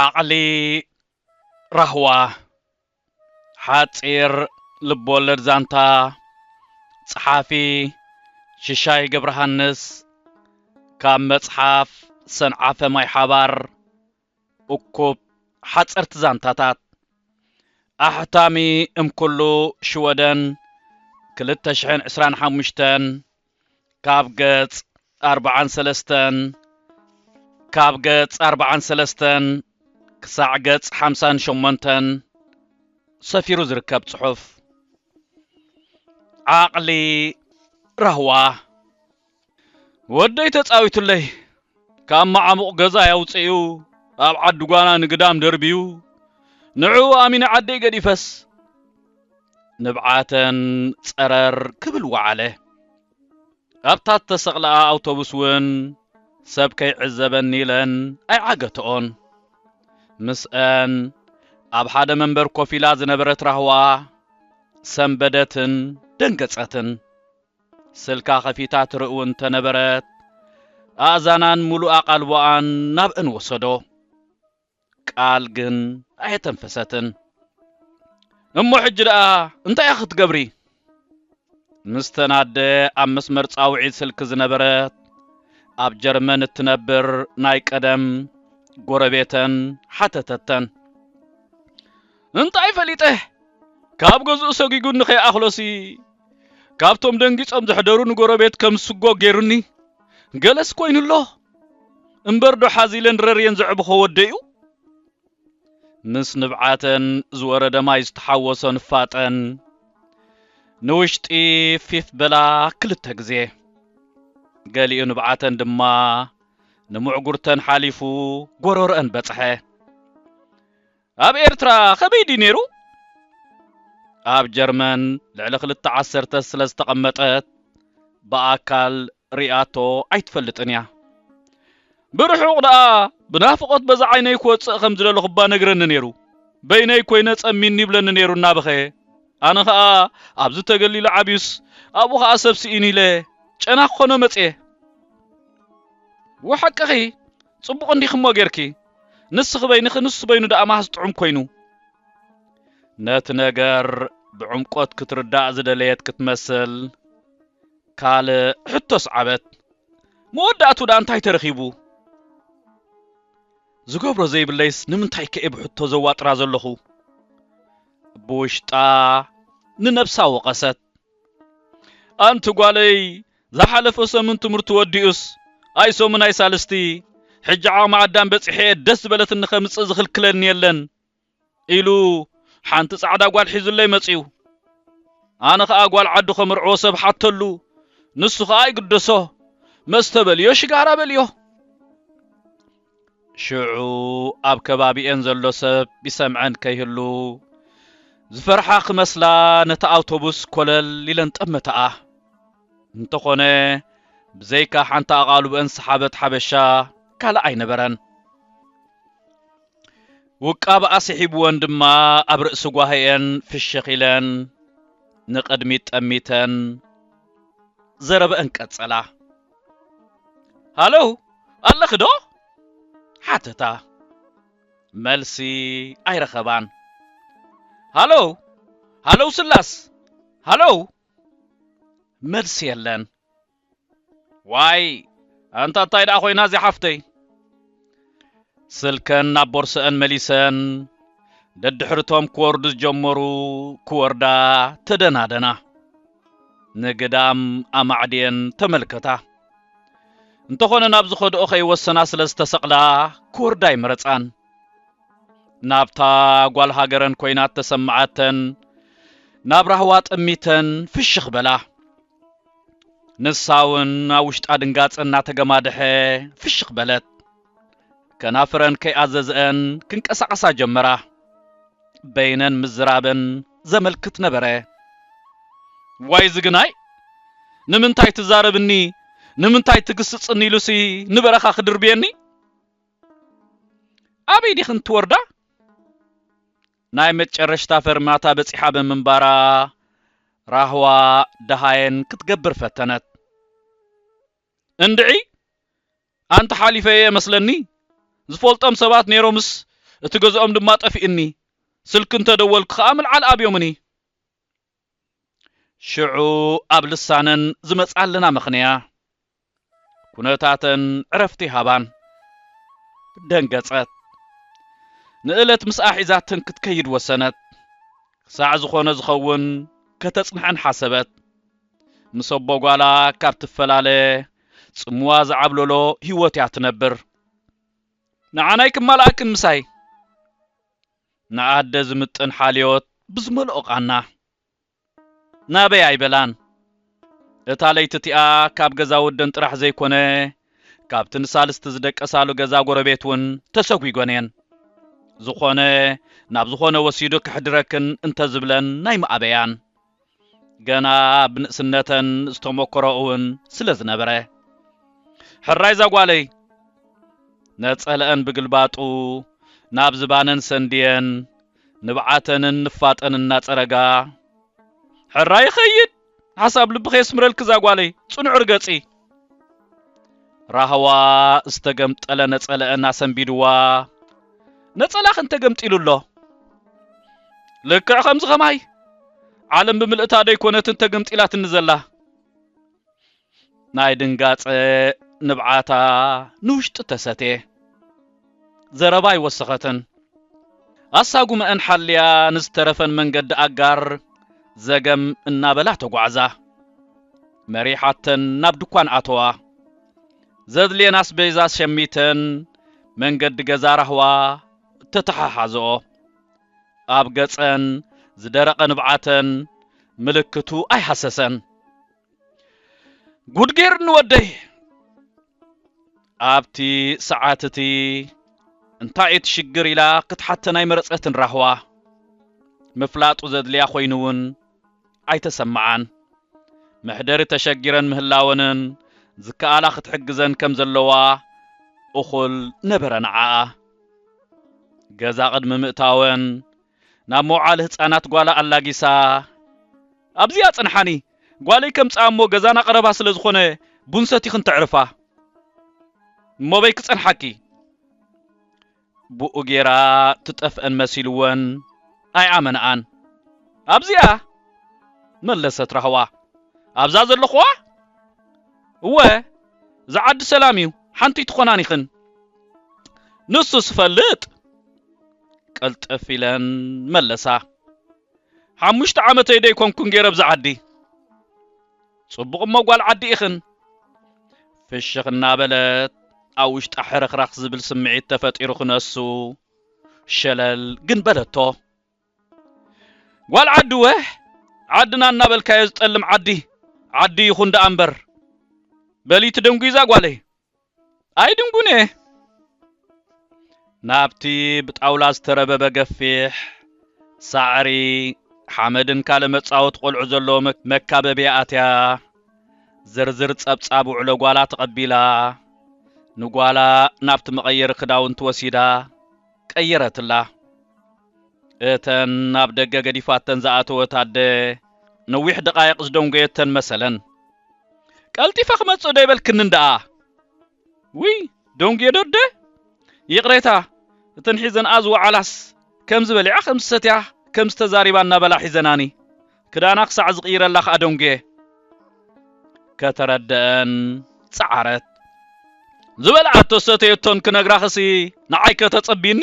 ዓቕሊ ራህዋ ሓፂር ልብወለድ ዛንታ ጸሓፊ ሽሻይ ገብረሃንስ ካብ መጽሓፍ ሰንዓፈ ማይ ሓባር እኩብ ሓጸርቲ ዛንታታት ኣሕታሚ እም ኩሉ ሽወደን ክልተ ሽሕን ዕስራን ሓሙሽተን ካብ ገጽ ኣርብዓን ሰለስተን ካብ ገጽ ኣርብዓን ሰለስተን ክሳዕ ገጽ ሓምሳን ሸሞንተን ሰፊሩ ዝርከብ ጽሑፍ ዓቕሊ ራህዋ ወደይ ተጻዊቱለይ ካብ መዓሙቕ ገዛይ ኣውጺኡ ኣብ ዓዲ ጓና ንግዳም ደርብዩ ንዕኡ ኣሚነ ዓደይ ገዲፈስ ንብዓተን ጸረር ክብል ወዓለ። ኣብታ እተሰቕላኣ ኣውቶቡስ እውን ሰብ ከይዕዘበኒ ኢለን ኣይዓገትኦን። ምስኣን ኣብ ሓደ መንበር ኮፍ ኢላ ዝነበረት ራህዋ ሰንበደትን ደንገጸትን። ስልካ ከፊታ ትርእው እንተነበረት፣ ኣእዛናን ምሉእ ኣቓልቦኣን ናብእን ወሰዶ። ቃል ግን ኣየተንፈሰትን። እሞ ሕጂ ደኣ እንታይ እያ ክትገብሪ? ምስተን ኣደ ኣብ መስመር ጻውዒት ስልኪ ዝነበረት፣ ኣብ ጀርመን እትነብር ናይ ቀደም ጎረቤተን ሓተተተን። እንታይ ፈሊጠ፣ ካብ ገዝኡ ሰጒጉኒ ከይኣኽሎሲ ካብቶም ደንጊጾም ዘሕደሩ ንጎረቤት ከም ስጎ ጌሩኒ ገለስ ኮይኑ ኣሎ እምበር ዶ ሓዚለን ረርየን ዘዕብኾ ወደይኡ ምስ ንብዓተን ዝወረደ ማይ ዝተሓወሶ ንፋጠን ንውሽጢ ፊፍ በላ ክልተ ግዜ ገሊኡ ንብዓተን ድማ ንምዕጉርተን ሓሊፉ ጎረሮአን በጽሐ። ኣብ ኤርትራ ከመይ ድዩ ነይሩ? ኣብ ጀርመን ልዕሊ ክልተ ዓሰርተ ስለ ዝተቐመጠት ብኣካል ሪኣቶ ኣይትፈልጥን እያ። ብርሑቕ ደኣ ብናፍቖት በዛ ዓይነይ ክወጽእ ከም ዝደለኹ'ባ ነግረኒ ነይሩ። በይነይ ኮይነ ጸሚኒ ይብለኒ ነይሩ እናበኸየ። ኣነ ከኣ ኣብዚ ተገሊሉ ዓብዩስ ኣብኡ ከኣ ሰብ ስኢኑ ኢለ ጨና ክኾኖ መጽየ። እወ ሓቅኺ ጽቡቕ እንዲኽሞ ጌርኪ ንስኺ በይንኺ ንሱ በይኑ ደኣ ማህስ ጥዑም ኮይኑ። ነቲ ነገር ብዕምቆት ክትርዳእ ዝደለየት ክትመስል ካልእ ሕቶ ኣስዓበት። መወዳእትኡ ደኣ እንታይ ተረኺቡ? ዝገብሮ ዘይብለይስ ንምንታይ ከ'የ ብሕቶ ዘዋጥራ ዘለኹ? ብውሽጣ ንነብሳ ወቐሰት። ኣንቲ ጓለይ ዝሓለፈ ሰሙን ትምህርቱ ወዲኡስ ኣይ ሰሙን ኣይ ሳልስቲ ሕጂ ዓቕሚ ኣዳም በጺሐ'የ ደስ ዝበለትኒ ከምጽእ ዝኽልክለኒ የለን ኢሉ ሓንቲ ጻዕዳ ጓል ሒዙለይ መጺኡ። ኣነ ኸኣ ጓል ዓዱ ከምርዕዎ ሰብ ሓተሉ ንሱ ኸኣ ኣይግደሶ መስተ በልዮ ሽጋራ በልዮ። ሽዑ ኣብ ከባቢኤን ዘሎ ሰብ ይሰምዐን ከይህሉ ዝፈርሓ ክመስላ ነታ ኣውቶቡስ ኮለል ኢለን ጠመታኣ። እንተኾነ ብዘይካ ሓንቲ ኣቓልቦኤን ዝሰሓበት ሓበሻ ካልእ ኣይነበረን። ውቃበኣ ስሒቡወን ድማ ኣብ ርእሲ ጓሂኤን ፍሽኽ ኢለን ንቕድሚት ጠሚተን ዘረበኤን ቀጸላ። ሃሎ ኣለኺ ዶ ሓተታ መልሲ ኣይረኸባን ሃሎ ሃሎ ስላስ ሃሎ መልሲ የለን ዋይ ኣንታ እንታይ ደኣ ኮይና እዚኣ ሓፍተይ ስልከን ናብ ቦርሰኣን መሊሰን ደድሕርቶም ክወርዱ ዝጀመሩ ክወርዳ ተደናደና ንግዳም ኣማዕድየን ተመልከታ እንተኾነ ናብ ዝኸድኦ ከይወሰና ስለ ዝተሰቕላ ክወርዳ ኣይመረጻን ናብታ ጓል ሃገረን ኮይናት ተሰማዓተን ናብ ራህዋ ጠሚተን ፍሽኽ በላ ንሳ እውን ኣብ ውሽጣ ድንጋጸ እናተገማደሐ ፍሽኽ በለት። ከናፍረን ከይኣዘዘኣን ክንቀሳቐሳ ጀመራ። በይነን ምዝራበን ዘመልክት ነበረ። ዋይ ዝግናይ ንምንታይ ትዛረብኒ ንምንታይ ትግስጽኒ ኢሉሲ ንበረኻ ክድርብየኒ ኣበይ ዲኽን ትወርዳ ናይ መጨረሽታ ፈርማታ በጺሓ ብምንባራ ራህዋ ደሃየን ክትገብር ፈተነት። እንድዒ! ኣንቲ ሓሊፈየ መስለኒ፣ ዝፈልጦም ሰባት ነይሮምስ እቲ ገዝኦም ድማ ጠፊኡኒ፣ ስልኪ እንተደወልኩ ከኣ ምልዓል ኣብዮምኒ። ሽዑ ኣብ ልሳነን ዝመጽኣልና ምኽንያ ኩነታተን ዕረፍቲ ሃባን። ደንገጸት። ንእለት ምስኣ ሒዛተን ክትከይድ ወሰነት። ክሳዕ ዝኾነ ዝኸውን ከተጽንሐን ሓሰበት። ምስ ኣቦ ጓላ ካብ ትፈላለ ጽምዋ ዝዓብለሎ ህይወትያ ትነብር። ንዓናይ ክማልኣክን ምሳይ። ንኣደ ዝምጥን ሓልዮት ብዝመልኦ ቓና። ናበይ ኣይበላን። እታ ለይቲ እቲኣ ካብ ገዛ ወደን ጥራሕ ዘይኮነ ካብቲ ንሳልስቲ ዝደቀሳሉ ገዛ ጎረቤት እውን ተሰጒጎን እየን። ዝኾነ ናብ ዝኾነ ወሲዱ ከሕድረክን እንተዝብለን ናይምኣበያን። ገና ብንእስነተን ዝተሞከረኡውን ስለ ዝነበረ፣ ሕራይ ዛጓለይ! ነጸለኣን ብግልባጡ ናብ ዝባነን ሰንድየን፣ ንብዓተንን ንፋጠን እናጸረጋ፣ ሕራይ ይኸይድ! ሓሳብ ልብኺ የስምረልኪ ዛጓለይ! ጽኑዕ ርገጺ! ራህዋ ዝተገምጠለ ነጸለአን ኣሰንቢድዋ ነጸላኽን ተገምጢሉ ኣሎ ልክዕ ከምዚ ኸማይ ዓለም ብምልእታ ደይኮነትን ተገምጢላትኒ ዘላ ናይ ድንጋጸ ንብዓታ ንውሽጢ ተሰቴ ዘረባ ኣይወሰኸትን። ኣሳጉመኣን ሓልያ ንዝተረፈን መንገዲ ኣጋር ዘገም እናበላ ተጓዕዛ። መሪሓተን ናብ ድኳን ኣተዋ። ዘድልየን ኣስቤዛ ሸሚተን መንገዲ ገዛ ራህዋ ተተሓሓዘኦ። ኣብ ገጸን ዝደረቐ ንብዓተን ምልክቱ ኣይሃሰሰን። ጉድ ጌርኒ ወደይ ኣብቲ ሰዓት እቲ እንታይ እቲ ሽግር ኢላ ክትሓተን ኣይመረጸትን ራህዋ ምፍላጡ ዘድልያ ኮይኑ እውን ኣይተሰምዓን መሕደሪ ተሸጊረን ምህላወንን ዝከኣላ ክትሕግዘን ከም ዘለዋ እኹል ነበረ ንዓኣ ገዛ ቅድሚ ምእታወን ናብ መውዓሊ ህጻናት ጓላ ኣላጊሳ ኣብዚ ኣጽንሓኒ፣ ጓለይ ከምጽኣ እሞ ገዛና ቀረባ ስለ ዝኾነ ቡን ሰቲኽን ተዕርፋ እሞበይ ክጸንሓኪ። ብኡ ጌራ ትጠፍእን መሲልወን ኣይኣመንኣን። ኣብዚኣ? መለሰት ራህዋ። ኣብዛ ዘለኹዋ? እወ እዚ ዓዲ ሰላም እዩ ሓንቲይ ትኾናን ኢኽን። ንሱስ እፈልጥ። ቅልጥፍ ኢለን መለሳ። ሓሙሽተ ዓመተይ ደይኮንኩን ገይረ ኣብዚ ዓዲ። ጽቡቕ እሞ ጓል ዓዲ ኢኽን። ፍሽኽ እናበለት ኣብ ውሽጣ ሕርኽራኽ ዝብል ስምዒት ተፈጢሩ ክነሱ ሸለል ግን በለቶ። ጓል ዓዲ ወህ ዓድና እናበልካዮ ዝጠልም ዓዲ ዓዲ ይኹን ደኣ እምበር በሊቲ ደንጒዛ ጓለይ ኣይድንጉን እየ። ናብቲ ብጣውላ ዝተረበበ ገፊሕ ሳዕሪ፣ ሓመድን ካልእ መጻወቲ ቆልዑ ዘለዎ መካበብያ ኣትያ፣ ዝርዝር ጸብጻብ ውዕሎ ጓላ ተቐቢላ፣ ንጓላ ናብቲ መቐየሪ ክዳውንቲ ወሲዳ ቀየረትላ። እተን ናብ ደገ ገዲፋተን ዝኣተወት ኣደ ነዊሕ ደቓይቕ ዝደንጎየተን መሰለን። ቀልጢፈ ክመጽእ ዶ ይበልክንን ደኣ? ውይ ደንጉየ ዶ ኣደ? ይቕሬታ፣ እተን ሒዘንኣ ዝወዓላስ ከምዚ በሊዓ ከም ዝሰትያ ከምዚ ተዛሪባ እናበላ ሒዘናኒ። ክዳና ክሳዕ ዝቕይረላ ከኣ ደንጉየ። ከተረድኣን ጸዓረት። ዝበልዓቶ ዝሰተየቶን ክነግራኽሲ ንዓይ ከተጸብይኒ?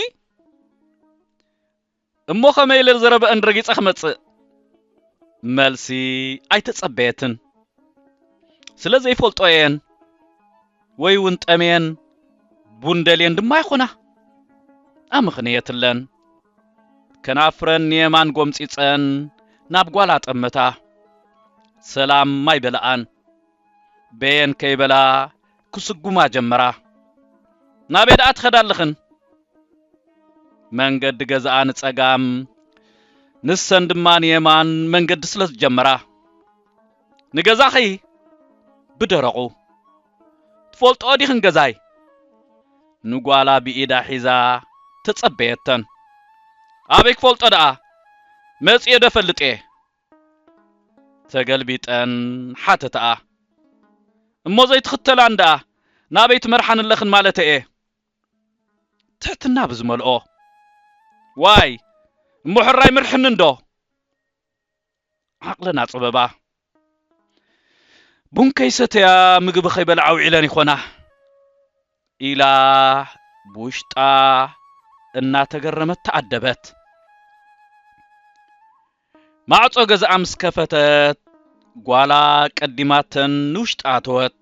እሞ ከመይ ኢለ ዘረበአን ረጊጸ ክመጽእ መልሲ ኣይተጸበየትን ስለ ዘይፈልጦ እየን ወይ እውን ጠምየን ቡን ደልየን ድማ ይኾና ኣምኽንየትለን ከናፍረን ንየማን ጎምፂፀን ናብ ጓላ ጠመታ ሰላም ማይ በለኣን በየን ከይበላ ክስጉማ ጀመራ። ናበይ ደኣ ትኸዳ ኣለኽን? መንገዲ ገዛኣ ንጸጋም ንሰን ድማ ንየማን መንገዲ ስለ ዝጀመራ። ንገዛኺ? ብደረቑ። ትፈልጥኦ ዲኽን ገዛይ? ንጓላ ብኢዳ ሒዛ ተጸበየተን። ኣበይ ክፈልጦ ደኣ፣ መጺኤ ዶ እፈልጥ'የ? ተገልቢጠን ሓተታኣ። እሞ ዘይትኽተላን ደኣ ናበይ ትመርሓን ኣለኽን ማለተይ'የ። ትሕትና ብዝመልኦ። ዋይ! እሞ ሕራይ ኣይምርሕንን'ዶ? ዓቕለን ኣጸበባ። ቡን ከይሰተያ ምግቢ ከይበልዓ ውዒለን ይኾና። ኢላ ብውሽጣ እናተገረመት ተኣደበት። ማዕጾ ገዛኣ ምስ ከፈተት ጓላ ቀዲማተን ንውሽጢ ኣተወት።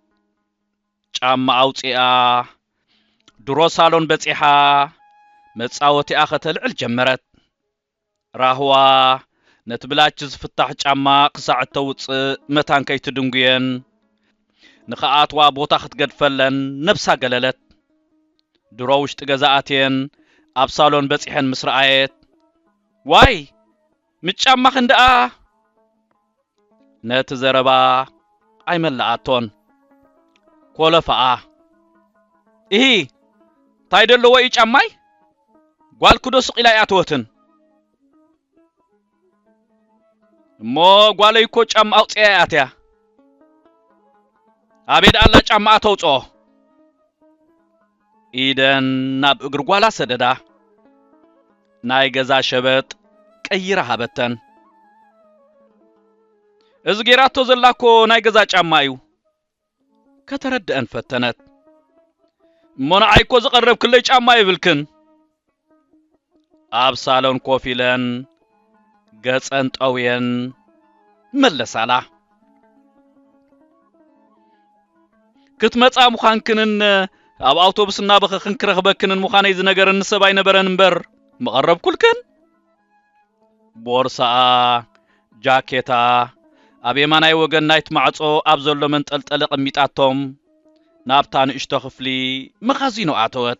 ጫማኣ ኣውጺኣ ድሮ ሳሎን በጺሓ መጻወቲኣ ከተልዕል ጀመረት። ራህዋ፣ ነቲ ብላች ዝፍታሕ ጫማ ክሳዕ እተውጽእ መታን ከይትድንጉየን። ንኽኣትዋ ቦታ ክትገድፈለን ነብሳ ገለለት። ድሮ ውሽጢ ገዛ ኣትየን ኣብ ሳሎን በጺሐን ምስ ረኣየት፣ ዋይ! ምስ ጫማኽን ደኣ! ነቲ ዘረባ ኣይመለኣቶን። ኮለፈኣ። እሂ! እንታይ ደለዎ እዩ ጫማይ? ጓልኪዶ ስቕ ኢላ ኣይኣተወትን? እሞ ጓለይ እኮ ጫማ ኣውጺኣ እያ ኣትያ። ኣበይ ደኣላ ጫማኣ ተውጽኦ? ኢደን ናብ እግሪ ጓላ ሰደዳ ናይ ገዛ ሸበጥ ቀይራ ሃበተን። እዚ ጌራቶ ዘላኮ ናይ ገዛ ጫማ እዩ። ከተረድኣን ፈተነት። እሞ ንዓይኮ ዘቐረብክለይ ጫማ የብልክን። ኣብ ሳሎን ኮፍ ኢለን ገጸን ጠውየን መለሳላ። ክትመጻ ምዃንክንን ኣብ ኣውቶቡስ እናበኸኽን ክረኽበክንን ምዃነይ ዝነገረኒ ሰብ ኣይነበረን እምበር ምቐረብኩልክን። ቦርሳኣ፣ ጃኬታ፣ ኣብ የማናይ ወገን ናይቲ ማዕጾ ኣብ ዘሎ መንጠልጠሊ ኣቐሚጣቶም ናብታ ንእሽቶ ክፍሊ መኻዚኖ ኣተወት።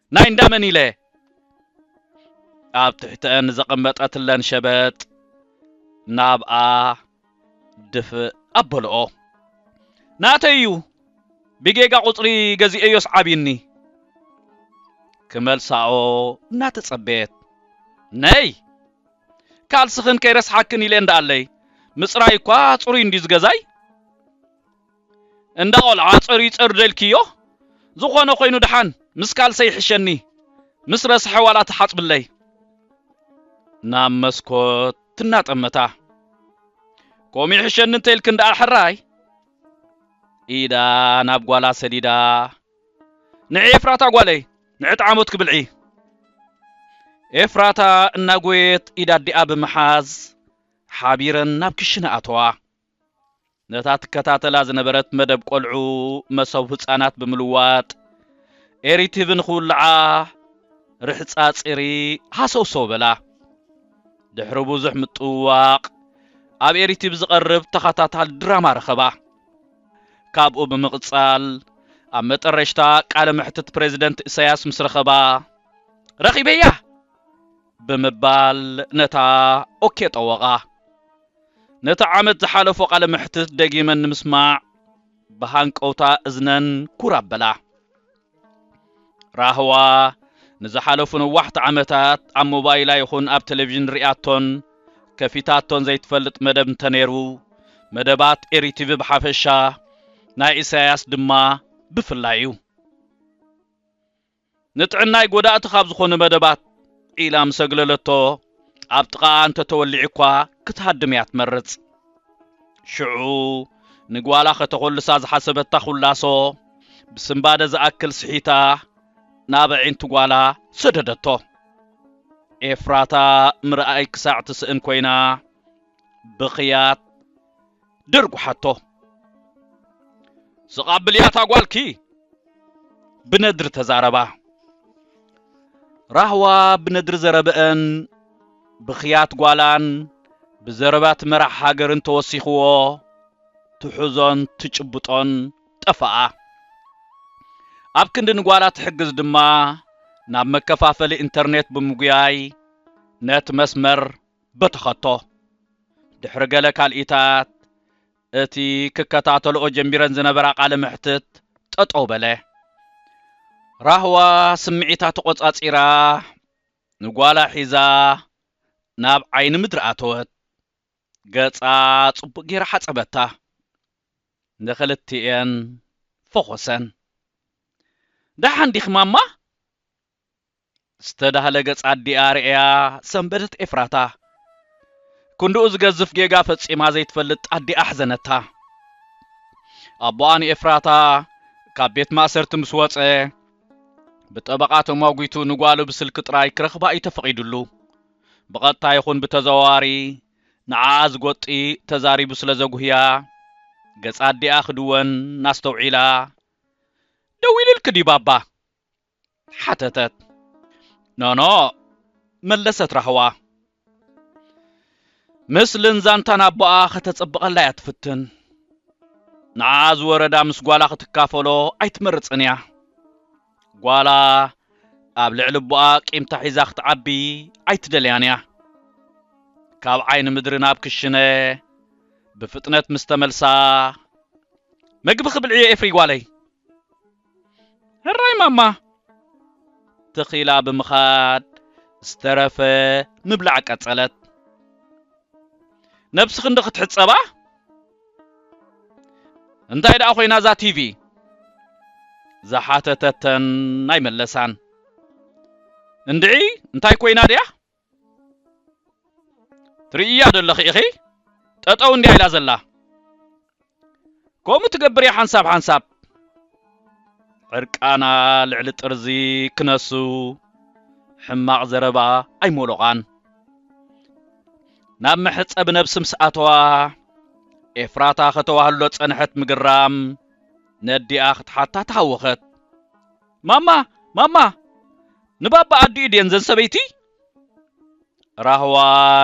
ናይ እንዳ መን ኢለ ኣብ ትሕተን ዘቐመጠትለን ሸበጥ ናብኣ ድፍእ ኣበልኦ። ናተይ እዩ ብጌጋ ቁጽሪ ገዚኤዮስ ዓቢኒ። ክመልሳኦ እናተጸበየት ነይ ካልስኽን ከይረስሓክን ኢለ እንዳኣለይ ምጽራይ እኳ ጽሩይ እንድዩ ዝገዛይ። እንዳ ቆልዓ ጸርዩጸር ደልክዮ ዝኾነ ኮይኑ ድሓን ምስ ካልሰይ ይሕሸኒ ምስ ረስሐ ዋላ ትሓጽብለይ። ናብ መስኮት እናጠመታ። ከምኡ ይሕሸኒ እንተኢልክን ድኣ ሕራይ። ኢዳ ናብ ጓላ ሰዲዳ። ንዒ ኤፍራታ ጓለይ ንዒ ጣዓሞትኪ ብልዒ። ኤፍራታ እናጎየየት ኢድ ኣዲኣ ብምሓዝ ሓቢረን ናብ ክሽነ ኣተዋ። ነታ ትከታተላ ዝነበረት መደብ ቆልዑ መሶብ ህጻናት ብምልዋጥ ኤሪ ቲቪ ንኽውልዓ ርሕጻ ጺሪ ሃሰውሰው በላ። ድሕሪ ብዙሕ ምጥውዋቕ ኣብ ኤሪ ቲቪ ዝቐርብ ተኸታታሊ ድራማ ረኸባ። ካብኡ ብምቕጻል ኣብ መጠረሽታ ቃለ መሕትት ፕረዚደንት እሰያስ ምስ ረኸባ ረኺበያ! ብምባል ነታ ኦኬ ጠወቓ። ነቲ ዓመት ዝሓለፎ ቃለ መሕትት ደጊመን ንምስማዕ ብሃንቀውታ እዝነን ኩር ኣበላ። ራህዋ ንዝሓለፉ ነዋሕቲ ዓመታት ኣብ ሞባይላ ይኹን ኣብ ቴሌቪዥን ርእያቶን ከፊታቶን ዘይትፈልጥ መደብ እንተነይሩ፣ መደባት ኤሪቲቪ ብሓፈሻ፣ ናይ ኢሳያስ ድማ ብፍላይ እዩ። ንጥዕናይ ጎዳእቲ ካብ ዝኾኑ መደባት ኢላ ምስ ኣግለለቶ፣ ኣብ ጥቓኣ እንተ ተወሊዑ'ኳ ክትሃድም እያ ትመርጽ። ሽዑ ንጓላ ከተኾልሳ ዝሓሰበታ ኹላሶ፣ ብስንባደ ዝኣክል ስሒታ ናብ ኣዒንቲ ጓላ ሰደደቶ። ኤፍራታ ምርኣይ ክሳዕ ትስእን ኮይና ብኽያት። ደርጉሓቶ ስቓ ብልያታ ጓልኪ ብነድሪ ተዛረባ ራህዋ ብነድሪ ዘረበአን ብኽያት ጓላን ብዘረባት መራሕ ሃገርን ተወሲኽዎ ትሑዞን ትጭብጦን ጠፋኣ ኣብ ክንዲ ንጓላ ትሕግዝ ድማ ናብ መከፋፈሊ ኢንተርኔት ብምጉያይ ነት መስመር ብትኸቶ ድሕሪ ገለ ካልኢታት እቲ ክከታተልኦ ጀሚረን ዝነበራ ቃለ መሕትት ጠጠው በለ። ራህዋ ስምዒታ ተቖጻጺራ ንጓላ ሒዛ ናብ ዓይኒ ምድሪ ኣተወት። ገጻ ጽቡቕ ጌራ ሓጸበታ። ንኽልቲኤን ፈኾሰን። ደሓን ዲኺ ማማ? ዝተዳህለ ገጽ ኣዲኣ ርእያ ሰንበደት ኤፍራታ። ክንድኡ ዝገዝፍ ጌጋ ፈጺማ ዘይትፈልጥ ኣዲኣ ኣሕዘነታ። ኣቦኣ ንኤፍራታ ካብ ቤት ማእሰርቲ ምስ ወጸ ብጠበቓ ተሟጒቱ ንጓሉ ብስልኪ ጥራይ ክረኽባ እዩ ተፈቒዱሉ። ብቐጥታ ይኹን ብተዘዋዋሪ ንዓኣ ዝጎጢ ተዛሪቡ ስለ ዘጉህያ ገጽ ኣዲኣ ክድወን ኣስተውዒላ ደዊሉልኪ ድዩ ባባ? ሓተተት። ኖኖ መለሰት ራህዋ። ምስልን ዛንታን ኣቦኣ ከተጽብቐላ እያ ትፍትን። ንዓኣ ዝወረዳ ምስ ጓላ ክትካፈሎ ኣይትመርጽን እያ። ጓላ ኣብ ልዕሊ ኣቦኣ ቂምታ ሒዛ ክትዓቢ ኣይትደልያን እያ። ካብ ዓይኒ ምድሪ ናብ ክሽነ ብፍጥነት ምስ ተመልሳ መግቢ ክብልዕዮ ኤፍሪ ጓለይ። ሕራይ ማማ! ተኺላ ብምኻድ ዝተረፈ ምብላዕ ቀጸለት። ነብስኺ እንዶ ክትሕጸባ? እንታይ ደኣ ኮይና እዛ ቲቪ? ዝሓተተተን ኣይመለሳን። እንድዒ እንታይ ኮይና ድያ? ትርእያ ዶ ኣለኺ ኢኺ ጠጠው እንድያ ኢላ ዘላ ከምኡ ትገብር እያ ሓንሳብ ሓንሳብ ዕርቃና ልዕሊ ጥርዚ ክነሱ ሕማቕ ዘረባ ኣይሞሎቓን ናብ መሕፀቢ ነብሲ ምስ ኣተዋ ኤፍራታ ከተዋህሎ ፀንሐት ምግራም ነዲኣ ክትሓታ ተሃወኸት ማማ ማማ ንባባ ኣዲኡ ድየን ዘን ሰበይቲ? ራህዋ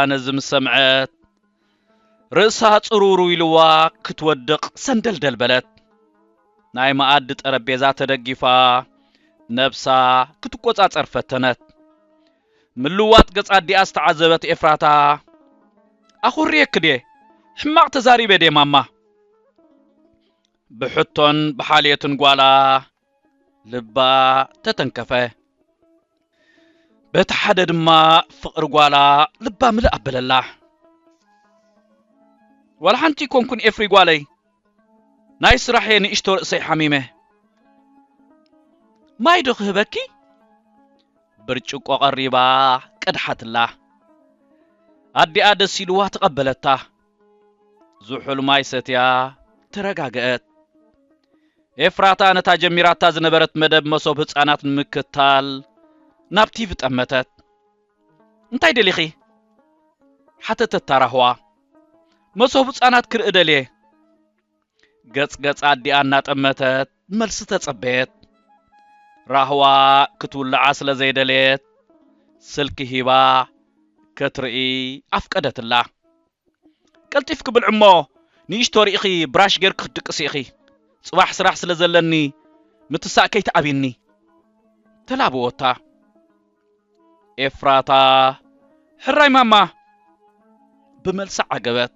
ነዚ ምስ ሰምዐት ርእሳ ጽርውርው ኢልዋ ክትወድቕ ሰንደልደል በለት። ናይ መኣዲ ጠረጴዛ ተደጊፋ ነብሳ ክትቆጻጸር ፈተነት። ምልዋጥ ገጽ ኣዲኣ ዝተዓዘበት ኤፍራታ ኣኹርየኪ ድየ? ሕማቕ ተዛሪበ ድየ ማማ? ብሕቶን ብሓልዮትን ጓላ ልባ ተተንከፈ። በቲ ሓደ ድማ ፍቕሪ ጓላ ልባ ምልእ ኣበለላ። ዋላ ሓንቲ ኮንኩን ኤፍሪ ጓለይ ናይ ስራሕየ ንእሽቶ ርእሰይ ሓሚመ ማይ ዶ ክህበኪ ብርጭቆ ቀሪባ ቀድሓትላ ኣዲኣ ደስ ኢልዋ ተቐበለታ ዝሑል ማይ ሰትያ ተረጋገእት። ኤፍራታ ነታ ጀሚራታ ዝነበረት መደብ መሶብ ህጻናት ንምክታል ናብ ቲቪ ጠመተት። እንታይ ደሊኺ? ሓተተታ ራህዋ። መሶብ ህጻናት ክርኢ ደልየ። ገጽ ገጽ ኣዲኣ እናጠመተት መልሲ ተጸበየት። ራህዋ ክትውልዓ ስለ ዘይደለየት ስልኪ ሂባ ከትርኢ ኣፍቀደትላ። ቀልጢፍኪ ብልዒ እሞ ንእሽቶ ርኢኺ ብራሽ ጌርኪ ክትድቅሲ ኢኺ፣ ጽባሕ ስራሕ ስለ ዘለኒ ምትሳእ ከይትኣብይኒ። ተላበወታ። ኤፍራታ ሕራይ ማማ ብመልሲ ዓገበት።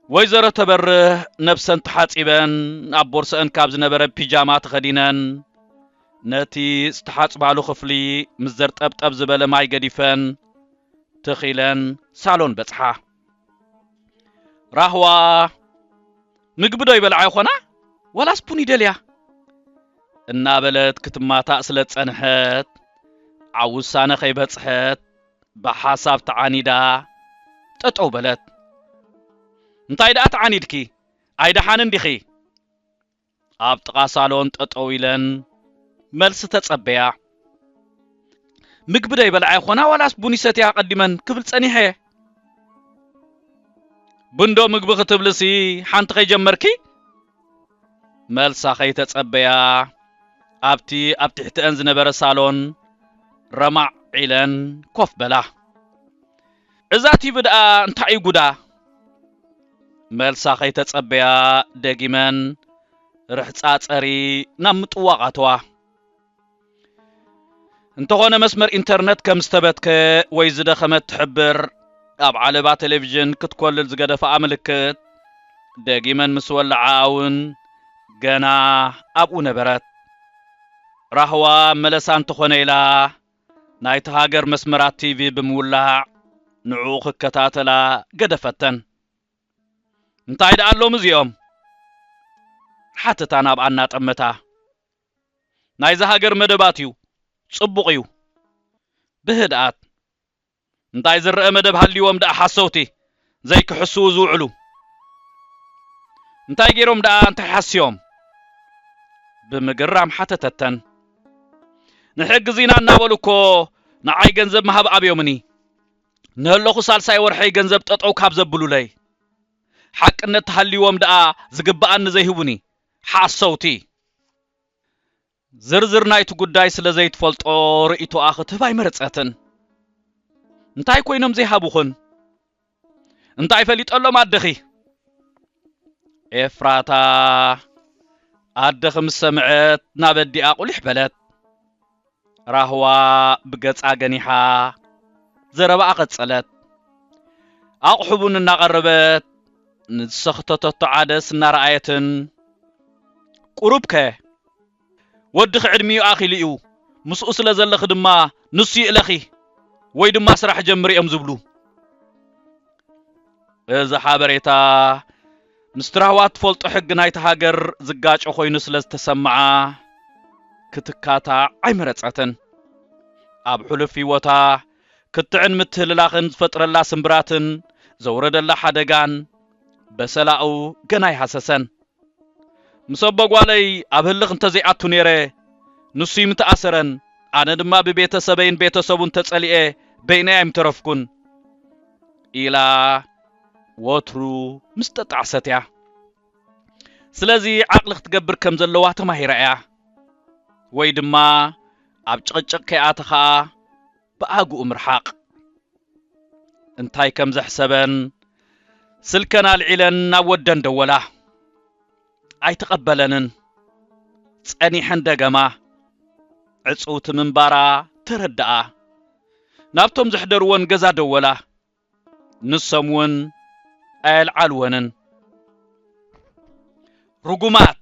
ወይዘሮ ተበርህ ነብሰን ተሓጺበን ኣብ ቦርሰአን ካብ ዝነበረ ፒጃማ ተኸዲነን ነቲ ዝተሓጽባሉ ክፍሊ ምስ ዘርጠብጠብ ዝበለ ማይ ገዲፈን ትኺለን ሳሎን በጽሓ። ራህዋ ምግቢ ዶ ይበልዓ ይኾና ዋላስ ቡን ይደልያ እናበለት ክትማታእ ስለ ዝጸንሐት ኣብ ውሳነ ከይበጽሐት ብሓሳብ ተዓኒዳ ጠጠው በለት እንታይ ደኣ ተዓኒድኪ ኣይደሓንን ዲኺ ኣብ ጥቓ ሳሎን ጠጠው ኢለን መልሲ ተጸበያ። ምግቢ ዶ ይበልዓ ይኾና ዋላስ ቡን ይሰትያ ኣቐዲመን ክብል ጸኒሐ። ቡንዶ ምግቢ ክትብልሲ ሓንቲ ከይጀመርኪ? መልሳ ከይተጸበያ ኣብቲ ኣብ ትሕተን ዝነበረ ሳሎን ረማዕ ኢለን ኮፍ በላ። እዛ ቲቪ ድኣ እንታይ እዩ ጉዳ? መልሳ ከይተጸበያ ደጊመን ርሕጻ ጸሪ ናብ ምጥዋቕ ኣተዋ። እንተኾነ መስመር ኢንተርነት ከም ዝተበትከ ወይ ዝደኸመት ትሕብር ኣብ ዓለባ ቴሌቪዥን ክትኮልል ዝገደፋኣ ምልክት ደጊመን ምስ ወላዓኣ እውን ገና ኣብኡ ነበረት። ራህዋ መለሳ እንተኾነ ኢላ ናይታ ሃገር መስመራት ቲቪ ብምውላዕ ንዕኡ ክከታተላ ገደፈተን። እንታይ ደኣ ኣሎም እዚኦም? ሓተታ ናብኣ እናጠመታ። ናይዛ ሃገር መደባት'ዩ፣ ጽቡቕ'ዩ። ብህድኣት። እንታይ ዝረኣ መደብ ሃልዩዎም ደኣ ሓሰውቲ ዘይክሕስዉ ዝውዕሉ እንታይ ጌሮም ደኣ እንታይ ሓስዮም ብምግራም ሓተተተን ንሕግዚና እናበሉ እኮ ንዓይ ገንዘብ ምሃብ ኣብዮምኒ ንህለኹ ሳልሳይ ወርሐይ ገንዘብ ጠጠው ካብ ዘብሉለይ ሓቅነት ተሃልዩዎም ደኣ ዝግበኣኒ ዘይህቡኒ ሓሰውቲ ዝርዝር ናይቲ ጉዳይ ስለ ዘይትፈልጦ ርእይቶኣ ክትህብ ኣይመረጸትን። እንታይ ኮይኖም ዘይሃቡኽን? እንታይ ፈሊጠሎም ኣደኺ? ኤፍራታ ኣደኺ ምስ ሰምዐት ናብ ኣዲኣ ቁሊሕ በለት። ራህዋ ብገጻ ገኒሓ ዘረባኣ ቀጸለት። ኣቕሑ ቡን እናቐረበት ንዝሰኽተተቶ ዓደስ እናረኣየትን ቁሩብከ ወድኺ ዕድሚኡ ኣኺሉ እዩ፣ ምስኡ ስለ ዘለኺ ድማ ንሱ ይእለኺ ወይ ድማ ስራሕ ጀምሪ እዮም ዝብሉ። እዚ ሓበሬታ ምስቲ ራህዋ እትፈልጦ ሕጊ ናይታ ሃገር ዝጋጮ ኮይኑ ስለ ዝተሰምዓ ክትካታዕ ኣይመረጸትን። ኣብ ሕሉፍ ህይወታ ክትዕን ምትህልላኽን ዝፈጥረላ ስምብራትን ዘውረደላ ሓደጋን በሰላኡ ገና ኣይሃሰሰን። ምስ ኣቦ ጓለይ ኣብ ህልኽ እንተዘይኣቱ ነይረ፣ ንሱ'ዩ ምተኣሰረን፣ ኣነ ድማ ብቤተ ሰበይን ቤተ ሰቡን ተጸሊኤ በይነይ ኣይምተረፍኩን። ኢላ ወትሩ ምስ ጠጣዕሰት'ያ። ስለዚ ዓቕሊ ክትገብር ከም ዘለዋ ተማሂራ'ያ። ወይ ድማ ኣብ ጭቕጭቕ ከይኣተኻ፣ ብኣግኡ ምርሓቕ። እንታይ ከም ዘሕሰበን ስልከን ኣልዒለን ናብ ወደን ደወላ። ኣይተቐበለንን። ጸኒሐን ደገማ። ዕጽውቲ ምንባራ ተረድኣ። ናብቶም ዘሕደርወን ገዛ ደወላ። ንሶም እውን ኣየልዓልወንን። ርጉማት!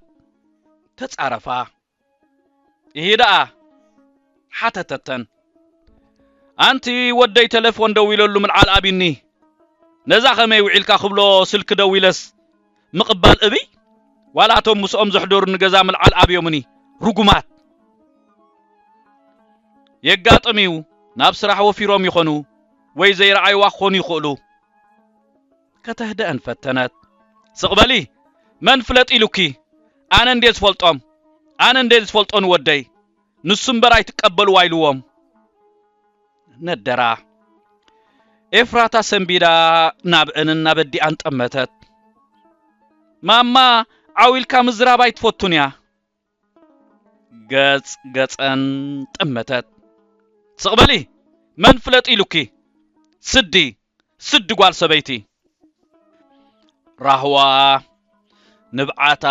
ተጻረፋ። እሂ ደኣ ሓተተተን። ኣንቲ ወደይ ተለፎን ደዊለሉ ምልዓል ኣቢኒ፣ ነዛ ከመይ ውዒልካ ክብሎ ስልኪ ደዊለስ ምቕባል እብይ፣ ዋላ እቶም ምስኦም ዘሕደሩኒ ገዛ ምልዓል ኣብዮምኒ፣ ርጉማት። የጋጥም'ዩ፣ ናብ ስራሕ ወፊሮም ይኾኑ ወይ ዘይረኣይዋ ክኾኑ ይኽእሉ። ከተህድኣን ፈተነት። ስቕ በሊ! መን ፍለጥ ኢሉኪ? ኣነ እንድየ ዝፈልጦም! ኣነ እንድየ ዝፈልጦ ንወደይ! ንሱ እምበር ኣይትቀበልዋ ኢልዎም ነደራ። ኤፍራታ ሰንቢዳ ናብአንን ናብ ኣዲኣን ጠመተት። ማማ ዓው ኢልካ ምዝራብ ኣይትፈቱን እያ። ገጽ ገጸን ጠመተት። ስቕ በሊ! መን ፍለጥ ኢሉኪ? ስዲ! ስዲ ጓል ሰበይቲ! ራህዋ ንብዓታ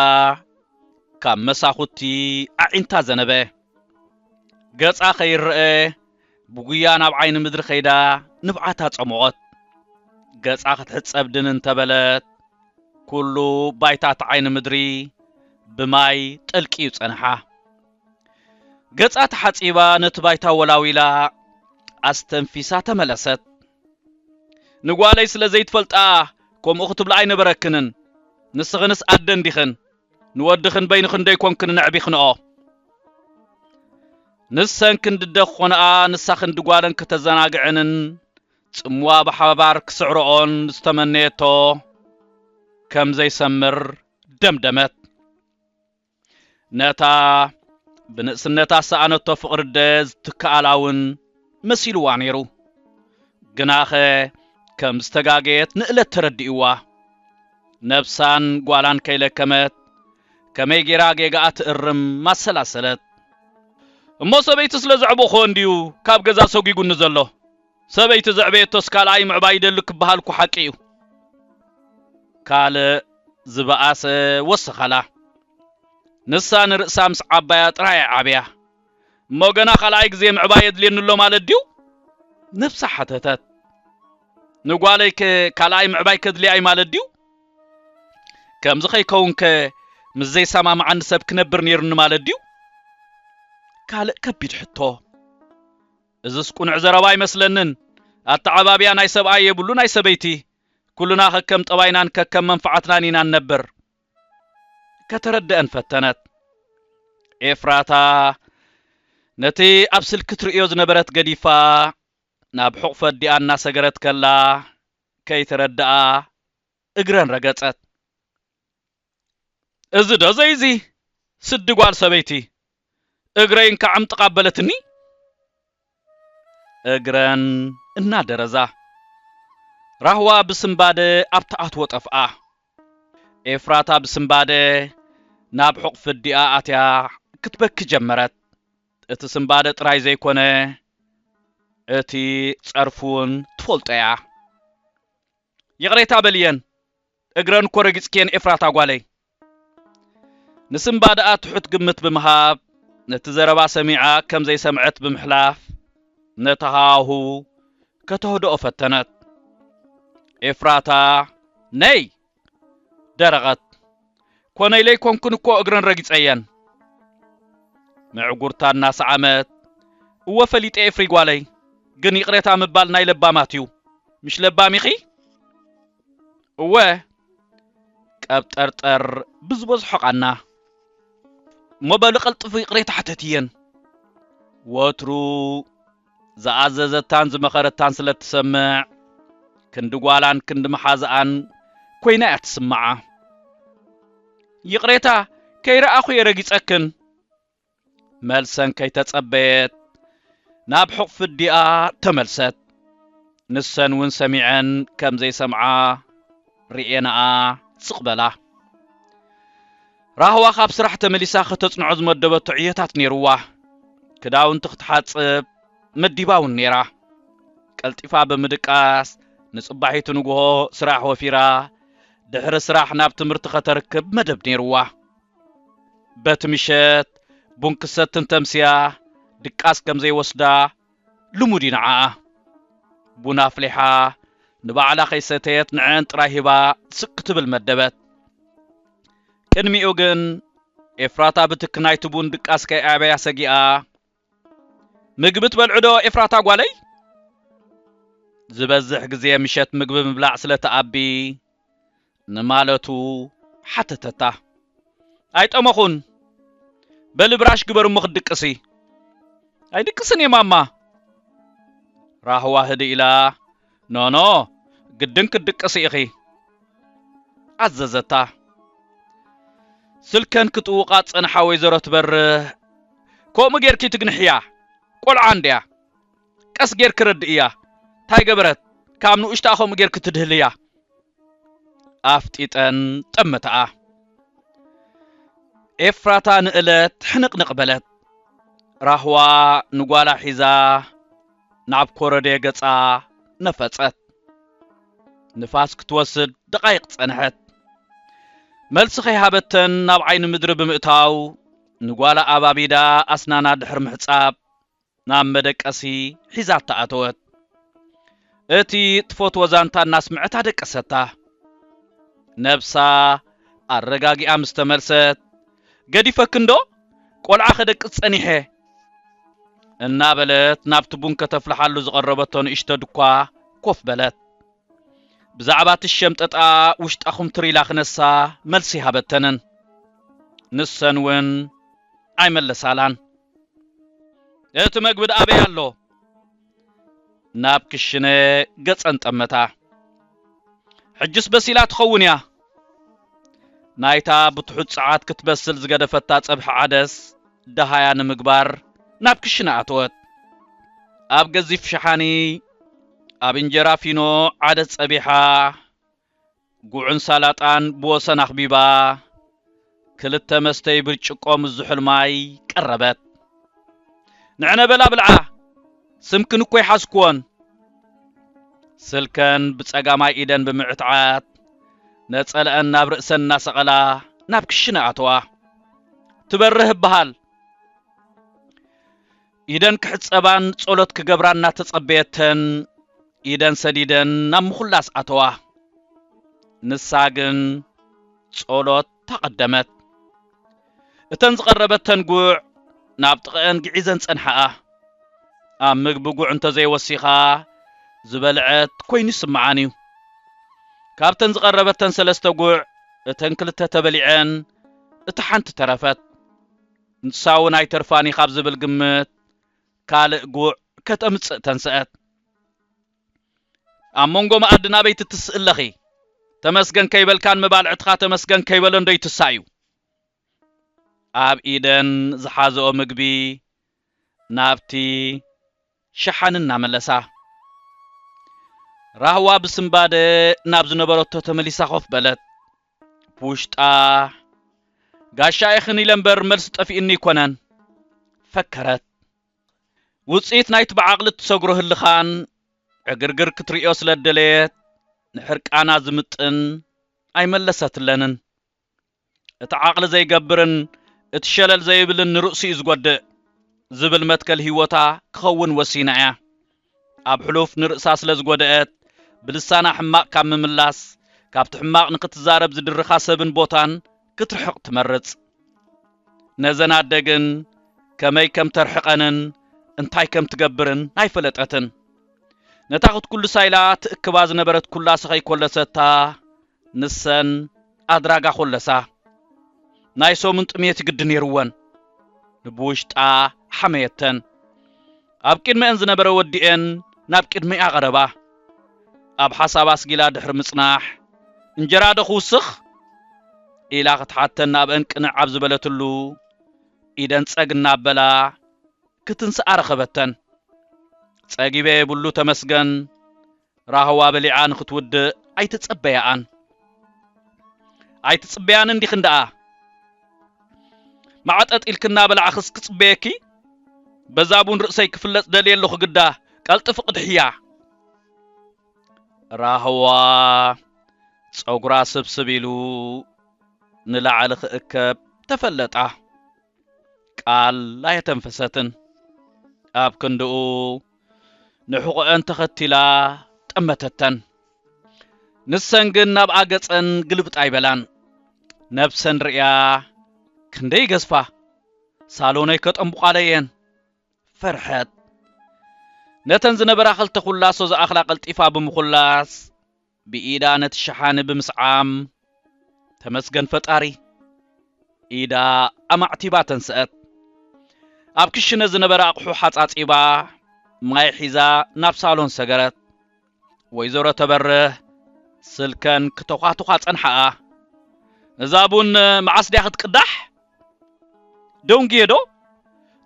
ካብ መሳኹቲ ኣዒንታ ዘነበ። ገጻ ከይረኣ ብጉያ ናብ ዓይኒ ምድሪ ከይዳ ንብዓታ ጸሞቐት። ገጻ ክትሕጸብ ድን እንተ በለት፣ ኩሉ ባይታ እቲ ዓይኒ ምድሪ ብማይ ጠልቂዩ ጸንሓ። ገጻ ተሓጺባ ነቲ ባይታ ወላዊላ ኣስተንፊሳ ተመለሰት። ንጓለይ ስለ ዘይትፈልጣ ከምኡ ክትብላ ኣይነበረክንን። ንስኽንስ ኣደ እንዲኽን። ንወድኽን በይኑ ክንደይ ኮንክን ነዕቢኽንኦ ንሰን ክንዲ ደኾንኣ ንሳ ክንዲ ጓለን ከተዘናግዕንን ጽምዋ ብሓባር ክስዕርኦን ዝተመነየቶ ከም ዘይሰምር ደምደመት። ነታ ብንእስነታ ሰኣነቶ ፍቕሪደ ዝትከኣላ እውን መሲልዋ ነይሩ። ግናኸ ከም ዝተጋገየት ንእለት ተረዲእዋ። ነብሳን ጓላን ከይለከመት ከመይ ገይራ ጌጋኣ ትእርም ኣሰላሰለት። እሞ ሰበይቲ ስለ ዘዕበኹዎ እንድዩ ካብ ገዛ ሰጒጉኒ ዘሎ። ሰበይቲ ዘዕበየቶስ ካልኣይ ምዕባይ ይደሊ ክበሃል እኮ ሓቂ እዩ። ካልእ ዝበኣሰ ወሰኻላ። ንሳ ንርእሳ ምስ ዓባያ ጥራይ እያ ዓብያ። እሞ ገና ካልኣይ ግዜ ምዕባይ የድልየኒ ኣሎ ማለት ድዩ? ነብሳ ሓተተት። ንጓለይከ ካልኣይ ምዕባይ ከድልያ'ዩ ማለት ድዩ? ከምዚ ከይከውንከ ምስ ዘይሰማምዓኒ ሰብ ክነብር ነይሩኒ ማለት ድዩ? ካልእ ከቢድ ሕቶ። እዝስ ቁኑዕ ዘረባ ኣይመስለንን። ኣተዓባብያ ናይ ሰብኣይ የብሉ ናይ ሰበይቲ። ኩልና ከከም ጠባይናን ከከም መንፍዓትናን ኢና ንነብር። ከተረድኣን ፈተነት። ኤፍራታ ነቲ ኣብ ስልኪ ትርእዮ ዝነበረት ገዲፋ ናብ ሕቝፊ ኣዲኣ እናሰገረት ከላ ከይተረድኣ እግረን ረገጸት። እዚዶ ዘይዚ ስዲ ጓል ሰበይቲ እግረይ እንካዕ ዕምጥቕ ኣበለትኒ እግረን እናደረዛ ራህዋ ብስንባደ ኣብ ትኣትዎ ጠፍኣ። ኤፍራታ ብስንባደ ናብ ሕቝፊ ኣዲኣ ኣትያ ክትበኪ ጀመረት። እቲ ስንባደ ጥራይ ዘይኰነ እቲ ጸርፊ'ውን ትፈልጦ'ያ። ይቕሬታ በልየን፣ እግረን እኮ ረጊጽክየን ኤፍራታ ጓለይ። ንስምባ ደኣ ትሑት ግምት ብምሃብ፣ ነቲ ዘረባ ሰሚዓ ከም ዘይሰምዐት ብምሕላፍ፣ ነቲ ሃዋህው ከተህድኦ ፈተነት። ኤፍራታ፣ ነይ! ደረቐት። ኮነ ኢለይ ኮንኩን እኮ እግረን ረጊጸየን። ምዕጉርታ እናሰዓመት፣ እወ ፈሊጠ ኤፍሪ ጓለይ፣ ግን ይቕሬታ ምባል ናይ ለባማት'ዩ። ምሽ ለባም ኢኺ? እወ ቀብጠርጠር ብዝበዝሖ ቓና እሞ በሊ ቀልጥፉ ይቕሬታ ሕተትየን ወትሩ ዝኣዘዘታን ዝመኸረታን ስለ እትሰምዕ ክንዲ ጓላን ክንዲ መሓዝኣን ኮይና እያ ትስምዓ ይቕሬታ ከይረኣኹ እየ ረጊጸክን መልሰን ከይተጸበየት ናብ ሕቝፊ ኣዲኣ ተመልሰት። ንሰን እውን ሰሚዐን ከም ዘይሰምዓ ርእየንኣ ስቕ በላ። ራህዋ ካብ ስራሕ ተመሊሳ ከተጽንዖ ዝመደበቶ ዕዮታት ነይሩዋ። ክዳውንቲ ክትሓጽብ መዲባ እውን ነይራ። ቀልጢፋ ብምድቃስ ንጽባሒቱ ንግሆ ስራሕ ወፊራ ድሕሪ ስራሕ ናብ ትምህርቲ ከተርክብ መደብ ነይሩዋ። በቲ ምሸት ቡን ክትሰቲ እንተምስያ ድቃስ ከም ዘይወስዳ ልሙድ እዩ ንዓኣ። ቡን ኣፍሊሓ ንባዕላ ከይሰተየት ንዐኣን ጥራይ ሂባ ስቅ ክትብል መደበት። ቅድሚኡ ግን ኤፍራታ ብትኪ ናይቲ ቡን ድቃስ ከይኣብያ ሰጊኣ ምግቢ ትበልዑ ዶ ኤፍራታ ጓለይ? ዝበዝሕ ግዜ ምሸት ምግቢ ምብላዕ ስለ ትኣቢ ንማለቱ ሓተተታ። ኣይጠመኹን። በሊ ብራሽ ግበሪ እሞ ክትድቅሲ። ኣይድቅስን እየ ማማ። ራህዋ ህድእ ኢላ ኖኖ ግድን ክትድቅሲ ኢኺ ኣዘዘታ። ስልከን ክጥውቓ ዝጸንሓ ወይዘሮ ትበርህ ከምኡ ጌርኪ ትግንሕያ ቆልዓ እንድያ ቀስ ጌርኪ ረድእያ ታይ ገበረት ካብ ንኡሽትኣ ከምኡ ጌርኪ ትድህልያ ኣፍጢጠን ጠመተኣ። ኤፍራታ ንእለት ሕንቕንቕ በለት። ራህዋ ንጓላ ሒዛ ናብ ኮረዴ ገጻ ነፈጸት። ንፋስ ክትወስድ ደቓይቕ ጸንሐት። መልሲ ከይሃበተን ናብ ዓይኒ ምድሪ ብምእታው ንጓላ ኣባቢዳ ኣስናና ድሕሪ ምሕጻብ ናብ መደቀሲ ሒዛታ ኣተወት። እቲ ትፈትዎ ዛንታ እናስምዐት ኣደቀሰታ። ነብሳ ኣረጋጊኣ ምስ ተመልሰት ገዲፈኪ እንዶ ቆልዓ ከደቅስ ጸኒሐ። እናበለት ናብቲ ቡን ከተፍልሓሉ ዝቐረበቶ ንእሽቶ ድኳ ኮፍ በለት። ብዛዕባ እቲ ሸምጠጣ ውሽጣ ኩምትር ኢላ ክነሳ መልሲ ሃበተንን። ንሰን እውን ኣይመለሳላን። እቲ መግቢ ድኣ ኣበይ ኣሎ? ናብ ክሽነ ገጸን ጠመታ። ሕጅስ በሲላ ትኸውን እያ። ናይታ ብትሑት ጸዓት ክትበስል ዝገደፈታ ጸብሒ ዓደስ ደሃያ ንምግባር ናብ ክሽነ ኣተወት። ኣብ ገዚፍ ሸሓኒ ኣብ እንጀራ ፊኖ ዓደስ ጸቢሓ፣ ጉዕን ሳላጣን ብወሰን ኣኽቢባ፣ ክልተ መስተዪ ብርጭቆ ምስ ዝሑል ማይ ቀረበት። ንዕነ በላ ብልዓ፣ ስምክን እኮ ኣይሓዝኩዎን። ስልከን ብጸጋማይ ኢደን ብምዕትዓት፣ ነጸለኣን ናብ ርእሰን እናሰቐላ ናብ ክሽነ ኣተዋ። ትበርህ እበሃል። ኢደን ክሕጸባን ጸሎት ክገብራ እናተጸበየተን ኢደን ሰዲደን ናብ ምኹላስ ኣተዋ። ንሳ ግን ጸሎት ኣቐደመት። እተን ዝቐረበተን ጉዕ ናብ ጥቐኤን ግዒዘን ጸንሓኣ። ኣብ ምግቢ ጉዕ እንተዘይወሲኻ ዝበልዐት ኮይኑ ይስምዓን እዩ። ካብተን ዝቐረበተን ሰለስተ ጉዕ እተን ክልተ ተበሊዐን እታ ሓንቲ ተረፈት። ንሳውን ኣይተርፋን እዩ ካብ ዝብል ግምት ካልእ ጉዕ ከተምጽእ ተንሰኣት። ኣብ መንጎ መኣዲ ናበይ ትትስኢ ኣለኺ? ተመስገን ከይበልካ ንመባልዕትኻ ተመስገን ከይበሎን ዶ ይትሳእ እዩ? ኣብ ኢደን ዝሓዘኦ ምግቢ ናብቲ ሸሓኒ እናመለሳ። ራህዋ ብስንባደ ናብ ዝነበረቶ ተመሊሳ ኮፍ በለት። ብውሽጣ፣ ጋሻ ኢኽን ኢለ እምበር መልሲ ጠፊኡኒ ኣይኮነን። ፈከረት። ውጽኢት ናይቲ ብዓቕሊ እትሰግሮ ህልኻን ዕግርግር ክትርእዮ ስለ እደለየት፣ ንሕርቃና ዝምጥን ኣይመለሰትለንን። እቲ ዓቕሊ ዘይገብርን እቲ ሸለል ዘይብልን ንርእሱ እዩ ዝጎድእ ዝብል መትከል ህይወታ ክኸውን ወሲና እያ። ኣብ ሕሉፍ ንርእሳ ስለ ዝጎደኣት፣ ብልሳና ሕማቕ ካብ ምምላስ፣ ካብቲ ሕማቕ ንኽትዛረብ ዝድርኻ ሰብን ቦታን ክትርሕቕ ትመርጽ። ነዘን ኣደ ግን ከመይ ከም ተርሕቐንን እንታይ ከም ትገብርን ኣይፈለጠትን። ነታ ክትኩልሳ ኢላ ትእክባ ዝነበረት ኩላሰ ከይኮለሰታ፣ ንሰን ኣድራጋ ኮለሳ ናይ ሰሙን ጥሜት ግዲ ነይሩወን ንብውሽጣ ሓመየተን። ኣብ ቂድመኤን ዝነበረ ወዲኤን ናብ ቂድመኤ ኣቐረባ። ኣብ ሓሳብ ኣስጊላ ድሕሪ ምጽናሕ እንጀራ ዶ ክውስኽ? ኢላ ክትሓተን ናብኤን ቅንዕ ኣብ ዝበለትሉ ኢደን ጸግ እናበላ ክትንስኣ ረኸበተን። ጸጊበ የብሉ ተመስገን ራህዋ በሊዓ ንኽትውድእ ኣይትጸበያኣን። ኣይትጽበያን እንዲኽን ደኣ? ማዕጠጥ ኢልኪ እናበላዕኽስ ክጽበየኪ? በዛ ቡን ርእሰይ ክፍለጽ ደልየ ኣለኹ ግዳ ቀልጥፊ ቅድሕያ። ራህዋ ጸጉራ ስብስብ ኢሉ ንላዕሊ ክእከብ ተፈለጣ። ቃል ኣየተንፈሰትን። ኣብ ክንድኡ ንሕቖኤን ተኸቲላ ጠመተተን። ንሰን ግን ናብኣ ገጸን ግልብጥ ኣይበላን። ነብሰን ርእያ ክንደይ ይገዝፋ፣ ሳሎነይ ከጠንቡቓለይ እየን። ፈርሐት። ነተን ዝነበራ ክልተ ኩላሶ ዝኣኽላ ቀልጢፋ ብምኹላስ ብኢዳ ነቲ ሸሓኒ ብምስዓም፣ ተመስገን ፈጣሪ! ኢዳ ኣማዕቲባ ተንስኣት። ኣብ ክሽነ ዝነበረ ኣቕሑ ሓጻጺባ፣ ማይ ሒዛ ናብ ሳሎን ሰገረት። ወይዘሮ ተበርህ ስልከን ክተዃቱዃ ጸንሓኣ። እዛ ቡን መዓስ ድያ ክትቅዳሕ? ደንጉየ ዶ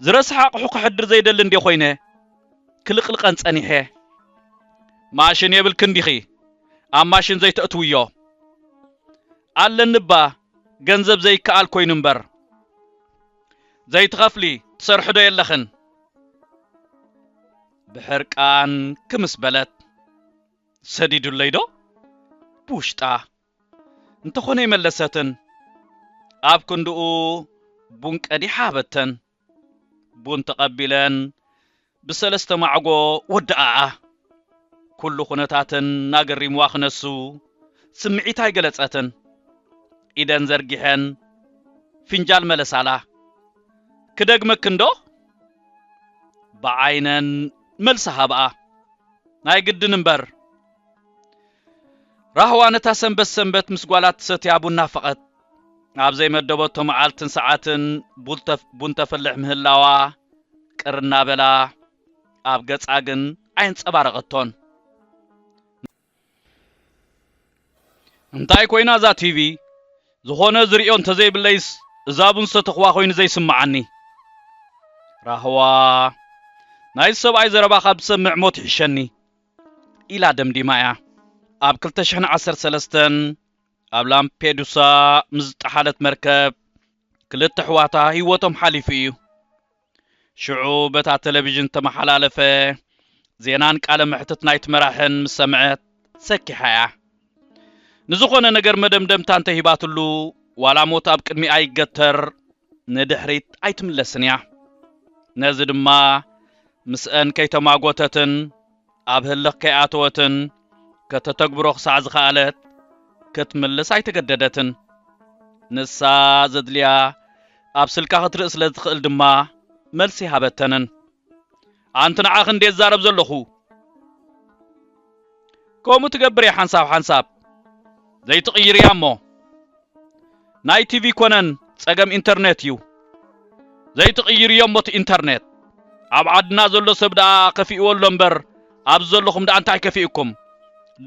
ዝረስሐ ኣቕሑ ክሕድር ዘይደሊ እንድየ ኮይነ ክልቕልቐን ጸኒሐ። ማሽን የብልክን ዲኺ ኣብ ማሽን ዘይተእትውዮ? ኣለኒ'ባ ገንዘብ ዘይከኣል ኮይኑ እምበር። ዘይትኸፍሊ ትሰርሒ ዶ የለኽን? ብሕርቃን ክምስ በለት። ሰዲዱለይ ዶ? ብውሽጣ። እንተኾነ ኣይመለሰትን። ኣብ ክንድኡ ቡን ቀዲሓ ሃበተን። ቡን ተቐቢለን ብሰለስተ ማዕጎ ወድኣኣ። ኩሉ ኩነታተን ኣገሪምዋ ክነሱ ስምዒታ ኣይገለጸትን። ኢደን ዘርጊሐን ፍንጃል መለሳላ። ክደግመክንዶ? ብዓይነን መልሲ ሃብኣ። ናይ ግድን እምበር። ራህዋ ነታ ሰንበት ሰንበት ምስ ጓላ እትሰትያ ቡን ናፈቐት። ኣብ ዘይመደበቶ መዓልትን ሰዓትን ቡን ተፍልሕ ምህላዋ ቅር እናበላ፣ ኣብ ገጻ ግን ኣየንጸባረቐቶን። እንታይ ኮይና እዛ ቲቪ? ዝኾነ ዝርእዮ እንተዘይብለይስ እዛ ቡን ዝሰተኹዋ ኮይኑ ዘይስምዓኒ። ራህዋ፣ ናይዚ ሰብኣይ ዘረባ ካብ ዝሰምዕ ሞት ይሕሸኒ። ኢላ ደምዲማ እያ። ኣብ ክልተ ሽሕን ዓሰርተ ሰለስተን ኣብ ላምፔዱሳ ምስ ዝጠሓለት መርከብ ክልተ ኣሕዋታ ህይወቶም ሓሊፉ እዩ። ሽዑ በታ ቴሌቪዥን ተመሓላለፈ ዜናን ቃለ መሕትት ናይቲ መራሕን ምስ ሰምዐት ሰኪሓ እያ። ንዝኾነ ነገር መደምደምታ እንተሂባትሉ ዋላ ሞት ኣብ ቅድሚኣ ይገተር ንድሕሪት ኣይትምለስን እያ። ነዚ ድማ ምስአን ከይተማጎተትን ኣብ ህልኽ ከይኣተወትን ከተተግብሮ ክሳዕ ዝኸኣለት ክትምልስ ኣይተገደደትን። ንሳ ዘድልያ ኣብ ስልካ ክትርኢ ስለ እትኽእል ድማ መልሲ ኣይሃበተንን። ኣንቲ ንዓኺ እንዴ ዛረብ ዘለኹ ከምኡ ትገብር እያ ሓንሳብ ሓንሳብ ዘይትቕይር እያ እሞ ናይ ቲቪ ኮነን ጸገም ኢንተርኔት እዩ ዘይትቕይር እዮም ሞቲ ኢንተርኔት ኣብ ዓድና ዘሎ ሰብ ደኣ ከፊእዎ ኣሎ እምበር ኣብዚ ዘለኹም ደኣ እንታይ ከፊእኩም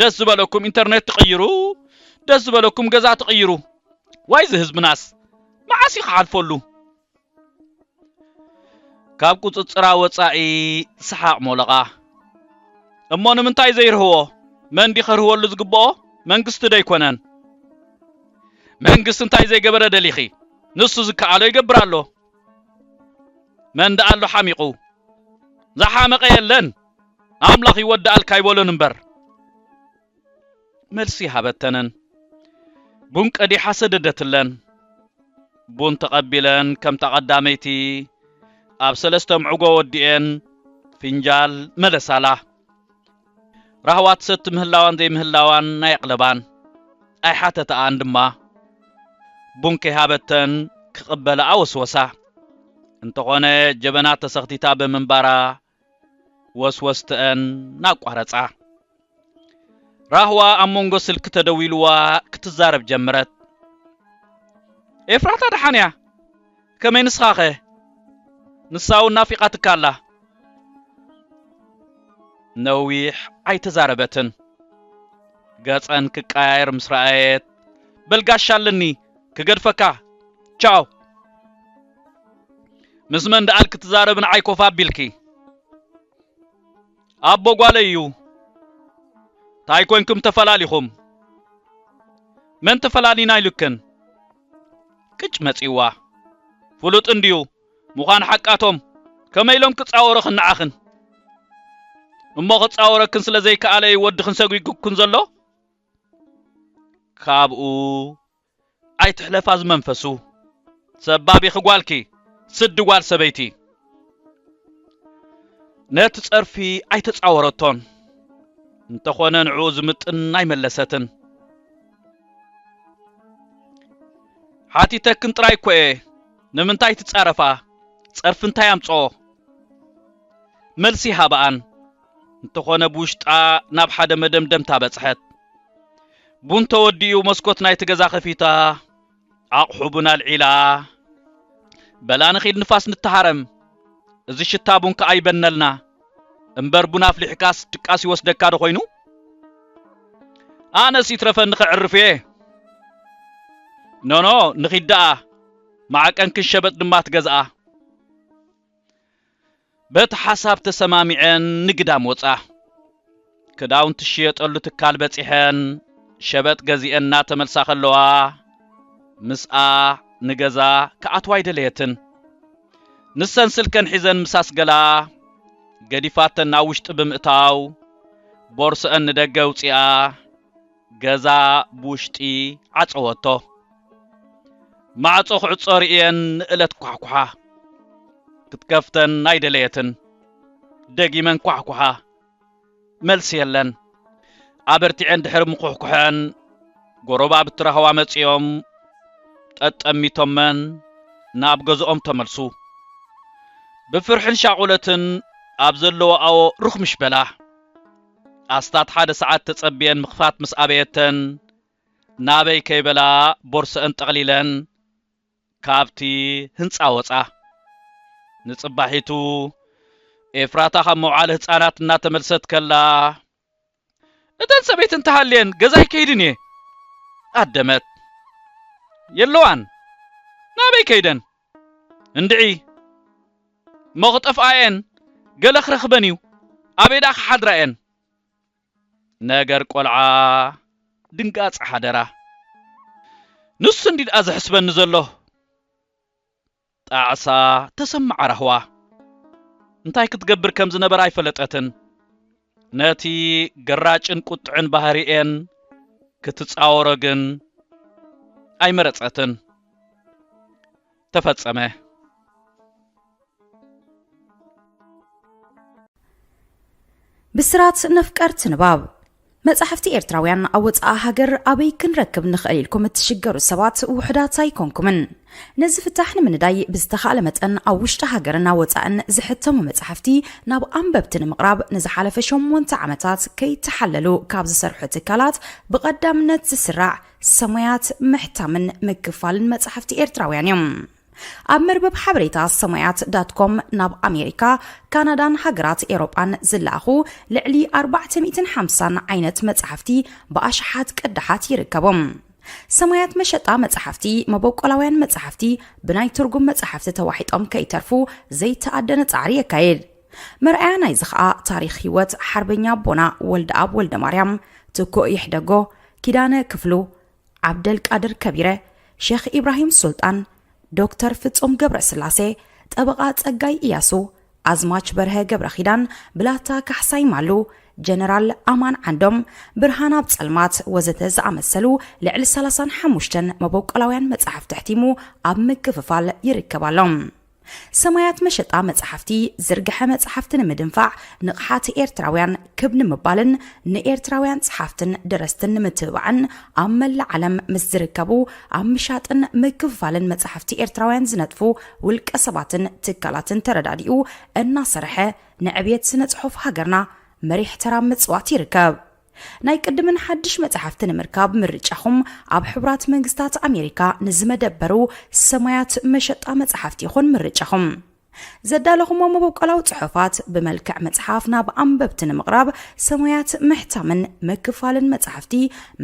ደስ ዝበለኩም ኢንተርኔት ትቕይሩ ደስ ዝበለኩም ገዛ ትቕይሩ ዋይዚ ህዝብናስ መዓስ እዩ ክሓልፈሉ ካብ ቁጽጽራ ወጻኢ ሰሓቕ ሞለቓ። እሞ ንምንታይ ዘይርህዎ? መን ድዩ ከርህወሉ ዝግብኦ? መንግስቲ ዶ ኣይኮነን? መንግስቲ እንታይ ዘይገበረ ደሊኺ? ንሱ ዝከኣሎ ይገብር ኣሎ። መን ደኣ ኣሎ ሓሚቑ? ዝሓመቐ የለን። ኣምላኽ ይወደኣልካ ኣይበሎን እምበር። መልሲ ሃበተንን። ቡን ቀዲሓ ሰደደትለን። ቡን ተቐቢለን ከምታ ቀዳመይቲ ኣብ ሰለስተ ምዕጎ ወዲኤን ፊንጃል መለሳላ። ራህዋ ትሰቲ ምህላዋን ዘይምህላዋን ኣየቕለባን። ኣይሓተታኣን ድማ። ቡን ከይሃበተን ክቕበላኣ ወስወሳ። እንተኾነ ጀበና ተሰኽቲታ ብምንባራ ወስወስትኣን ኣቋረጻ። ራህዋ ኣብ መንጎ ስልኪ ተደዊሉዋ ክትዛረብ ጀመረት። ኤፍራታ ደሓን እያ፣ ከመይ ንስኻኸ? ንሳውን ናፊቓትካ ኣላ። ነዊሕ ኣይተዛረበትን። ገጸን ክቀያየር ምስ ረኣየት፣ በል ጋሻ ኣለኒ ክገድፈካ፣ ቻው! ምስ መን ደኣል ክትዛረብ ንዓይ ኮፍ ኣቢልኪ ኣቦ ጓለይ እዩ ታይ ኮንኩም ተፈላሊኹም መን ተፈላሊና ኢሉክን ቅጭ መፂዋ ፍሉጥ እንድዩ ምዃን ሓቃቶም ከመይ ኢሎም ክፃወረኽን ንዓኽን እሞ ክፃወረክን ስለ ዘይከኣለ እዩ ወድኽን ሰጒጉክን ዘሎ ካብኡ ኣይትሕለፋ ዝመንፈሱ ሰባቢኺ ጓልኪ ስዲ ጓል ሰበይቲ ነቲ ጸርፊ ኣይተጻወረቶን እንተኾነ ንዕኡ ዝምጥን ኣይመለሰትን ሓቲተክን ጥራይ እኮ እየ ንምንታይ ትጻረፋ ጸርፊ እንታይ ኣምጽኦ መልሲ ሃበኣን እንተኾነ ብውሽጣ ናብ ሓደ መደምደምታ በጽሐት። ቡን ተወዲኡ መስኮት ናይቲ ገዛ ከፊታ ኣቕሑ ቡን ኣልዒላ በላ ንኺድ ንፋስ ንተሃረም እዚ ሽታ ቡን ከኣ ይበነልና እምበር ቡን ኣፍሊሕካስ ድቃስ ይወስደካ ዶ ኮይኑ ኣነስ ይትረፈኒ ከዕርፍ እየ ኖኖ ንኺድ ደኣ ማዕቀንክን ሸበጥ ድማ ትገዝኣ በቲ ሓሳብ ተሰማሚዐን ንግዳም ወፃ። ክዳውንቲ ዝሽየጠሉ ትካል በፂሐን ሸበጥ ገዚኤን እናተመልሳ ከለዋ ምስኣ ንገዛ ክኣትዋ ኣይደለየትን። ንሰን ስልከን ሒዘን ምስ ኣስገላ ገዲፋተን ናብ ውሽጢ ብምእታው ቦርስኣን ንደገ ኣውፂኣ፣ ገዛ ብውሽጢ ዓጸወቶ። ማዕጾ ክዕጾ ርእየን ንእለት ኳሕኩሓ። ክትከፍተን ኣይደለየትን። ደጊመን ኳሕኩሓ። መልሲ የለን። ኣበርቲዐን ድሕሪ ምኹሕኩሐን ጎረባብቲ ራህዋ መጺኦም ጠጠሚቶመን ናብ ገዝኦም ተመልሱ። ብፍርሕን ሻቑለትን ኣብ ዘለወኣኦ ርኽምሽ በላ። ኣስታት ሓደ ሰዓት ተጸብየን ምኽፋት ምስ ኣበየተን፣ ናበይ ከይበላ ቦርሰኣን ጠቕሊለን ካብቲ ህንጻ ወጻ። ንጽባሒቱ ኤፍራታ ካብ መውዓሊ ህጻናት እናተመልሰት ከላ፣ እተን ሰበይቲ እንተሃልየን ገዛይ ከይድን እየ። ኣደመት። የለዋን። ናበይ ከይደን? እንድዒ እሞ ክጠፍኣ እየን ገለ ክረኽበን እዩ ኣበይ ደኣ ክሓድራ እየን ነገር ቆልዓ ድንጋጸ ሓደራ ንሱ እንድዩ ደኣ ዘሕስበኒ ዘሎ ጣዕሳ ተሰመዓ ራህዋ እንታይ ክትገብር ከም ዝነበራ ኣይፈለጠትን ነቲ ገራጭን ቁጥዕን ባህሪኤን ክትጻወሮ ግን ኣይመረጸትን። ተፈጸመ። ብስራት ነፍቀርቲ ንባብ መጻሕፍቲ ኤርትራውያን ኣብ ወጻኢ ሃገር ኣበይ ክንረክብ ንኽእል ኢልኩም እትሽገሩ ሰባት ውሑዳት ኣይኮንኩምን። ነዚ ፍታሕ ንምንዳይ ብዝተኻእለ መጠን ኣብ ውሽጢ ሃገርን ኣብ ወጻእን ዝሕተሙ መጻሕፍቲ ናብ ኣንበብቲ ንምቕራብ ንዝሓለፈ ሸሞንተ ዓመታት ከይተሓለሉ ካብ ዝሰርሑ ትካላት ብቐዳምነት ዝስራዕ ሰሙያት ምሕታምን ምክፋልን መጻሕፍቲ ኤርትራውያን እዮም። ኣብ መርበብ ሓበሬታ ሰሙያት ዳትኮም ናብ ኣሜሪካ፣ ካናዳን ሃገራት ኤሮጳን ዝለኣኹ ልዕሊ ኣርባዕተ ሚእትን ሓምሳን ዓይነት መጻሕፍቲ ብኣሽሓት ቅዳሓት ይርከቦም። ሰማያት መሸጣ መጻሕፍቲ፣ መበቆላውያን መጻሕፍቲ ብናይ ትርጉም መጻሕፍቲ ተዋሒጦም ከይተርፉ ዘይተኣደነ ጻዕሪ የካይድ። መርኣያ ናይዚ ኸኣ ታሪኽ ህይወት ሓርበኛ ኣቦና ወልደኣብ ወልደ ማርያም፣ ትኩእ ይሕደጎ፣ ኪዳነ ክፍሉ፣ ዓብደልቃድር ከቢረ፣ ሼኽ ኢብራሂም ሱልጣን፣ ዶክተር ፍጹም ገብረስላሴ፣ ጠበቓ ጸጋይ ኢያሱ፣ ኣዝማች በርሀ ገብረኺዳን፣ ብላታ ካሕሳይ ማሉ፣ ጀነራል ኣማን ዓንዶም፣ ብርሃን ኣብ ጸልማት ወዘተ ዝኣመሰሉ ልዕሊ ሰላሳን ሓሙሽተን መበቆላውያን መጻሕፍቲ ኣሕቲሙ ኣብ ምክፍፋል ይርከብ ኣሎ። ሰማያት መሸጣ መጻሕፍቲ ዝርግሐ መጻሕፍቲ ንምድንፋዕ ንቕሓት ኤርትራውያን ክብ ንምባልን ንኤርትራውያን ጸሓፍትን ደረስትን ንምትብባዕን ኣብ መላእ ዓለም ምስ ዝርከቡ ኣብ ምሻጥን ምክፍፋልን መጻሕፍቲ ኤርትራውያን ዝነጥፉ ውልቀ ሰባትን ትካላትን ተረዳዲኡ እናሰርሐ ንዕብየት ስነ ጽሑፍ ሃገርና መሪሕ ተራ ኣብ ምጽዋት ይርከብ። ናይ ቅድምን ሓድሽ መጻሕፍቲ ንምርካብ ምርጫኹም ኣብ ሕቡራት መንግስታት ኣሜሪካ ንዝመደበሩ ሰማያት መሸጣ መጻሕፍቲ ይኹን ምርጫኹም። ዘዳለኹሞ መበቆላዊ ጽሑፋት ብመልክዕ መጽሓፍ ናብ ኣንበብቲ ንምቕራብ ሰሙያት ምሕታምን ምክፋልን መጻሕፍቲ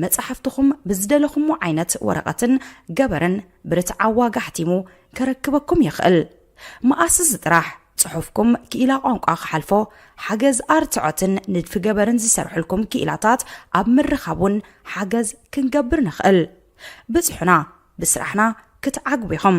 መጻሕፍትኹም ብዝደለኹሞ ዓይነት ወረቐትን ገበርን ብርትዓዊ ዋጋ ኣሕቲሙ ከረክበኩም ይኽእል መኣስስ ጥራሕ ጽሑፍኩም ክኢላ ቋንቋ ክሓልፎ ሓገዝ ኣርትዖትን ንድፊ ገበርን ዝሰርሕልኩም ክኢላታት ኣብ ምርኻብ እውን ሓገዝ ክንገብር ንኽእል ብጽሑና ብስራሕና ክትዓግቡ ኢኹም